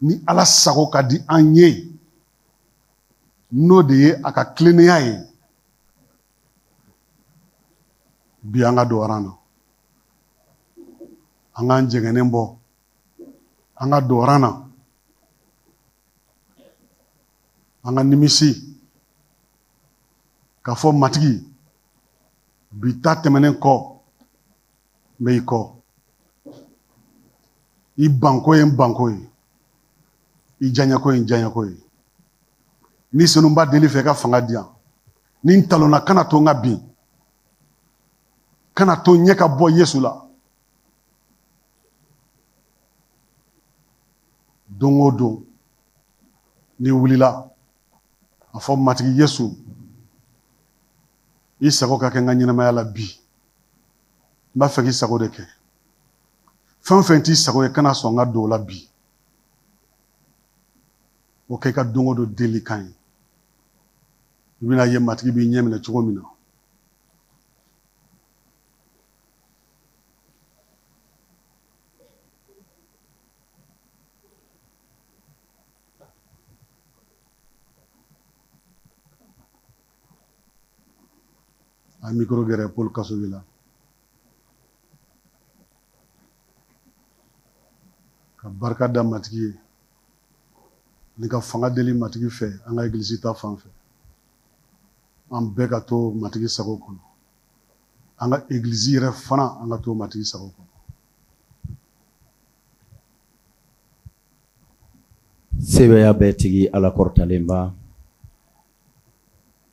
ni ala sago ka di an ye n'o de ye a ka tilennenya ye bi an ka don na an k'an jɛngɛnnen bɔ an ka don na an ka nimisi k'a fɔ matigi bi ta tɛmɛnen kɔ n bɛ i kɔ i banko ye n banko ye i diyanyeko ye n diyanyeko ye ni senu n b'a deli i fɛ ka fanga di yan ni n talonna kana to n ka bin kana to n ɲɛ ka bɔ yesu la don o don n'i wulila a fɔ matigi yesu i sago ka kɛ n ka ɲɛnamaya la bi n b'a fɛ k'i sago de kɛ fɛn o fɛn t'i sago ye kana sɔn n ka don o la bi o kɛ i ka don o don delikan ye i bɛn'a ye matigi b'i ɲɛminɛ cogo min na a mikoro gɛrɛ poli kasogɛ la ka barika da matigi ye ni ka fanga deli matigi fɛ an ka egilisi ta fan fɛ an bɛɛ ka to matigi sago kɔnɔ an ka egilisi yɛrɛ fana an ka to matigi sago kɔnɔ sebaaya bɛɛ tigi ala kɔrɔtalenba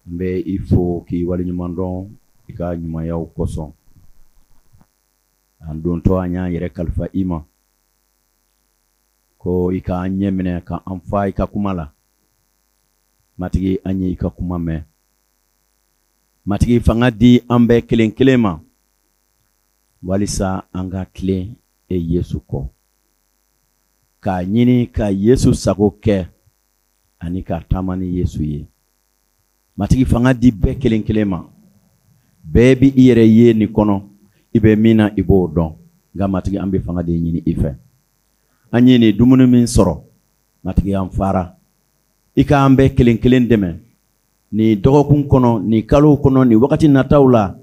n bɛ i fo k'i waleɲumandɔn i ka ɲumanyaw kosɔn an dontɔ an y'an yɛrɛ kalifa i ma ko i ka an ɲɛminɛ ka an fa i ka kuma la matigi an ye i ka kuma mɛn matigi fanga di an bɛɛ kelen kelen ma walisa an ka tilen e yesu kɔ k'a ɲini ka yesu sago kɛ ani ka taama ni Yesu ye. Matigi fanga di bɛɛ kelen kelen ma. Bɛɛ bɛ i yɛrɛ ye nin kɔnɔ, i bɛ min na i b'o dɔn. Nka Matigi an bɛ fanga de ɲini i fɛ. An ye nin dumuni min sɔrɔ, Matigi an fara. I k'an bɛɛ kelen kelen dɛmɛ nin dɔgɔkun kɔnɔ, nin kalo kɔnɔ, nin wagati nataw la,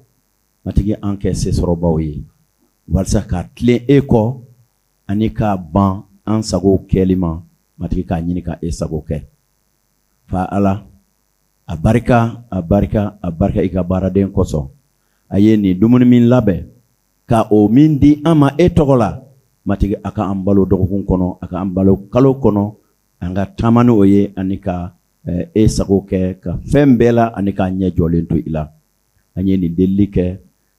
Matigi an kɛ sesɔrɔbaaw ye, walisa ka tilen e kɔ ani ka ban an sago kɛli ma matigi k'a ɲini ka e sago kɛ fa ala a barika a barika a barika i ka baaraden kosɔn a ye nin dumuni min labɛn ka o min di an ma e tɔgɔ la matigi a ka an balo dɔgɔkun kɔnɔ a ka an balo kalo kɔnɔ an ka taama ni o ye ani ka eh, e sago kɛ ka fɛn bɛɛ la ani k'an ɲɛ jɔlen to i la an ye nin delili kɛ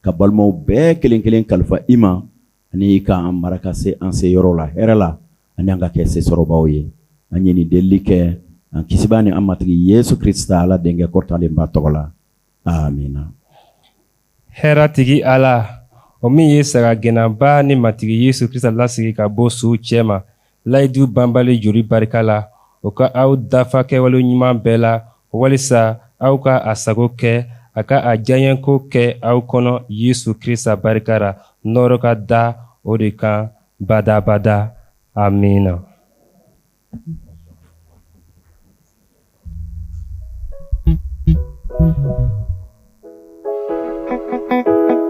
ka balimaw bɛɛ kelen kelen kalifa i ma ani k'an mara ka se an seyɔrɔ la hɛrɛ la ani an ka kɛ sesɔrɔbaw ye an ye nin delili kɛ an kisiba ni an matigi yesu krista ala denkɛ kɔrɔtalenba tɔgɔ la amina hɛrɛ tigi ala o min ye sagagɛnnaba ni matigi yesu krista lasegin ka bɔ suw cɛma layidu banbali joli barika la o ka aw dafa kɛwale ɲuman bɛɛ la walisa aw ka a sago kɛ a ka a diyaɲɛko kɛ aw kɔnɔ yesu krista barika ra nɔɔrɔ ka da o de kan badaa badaa amiina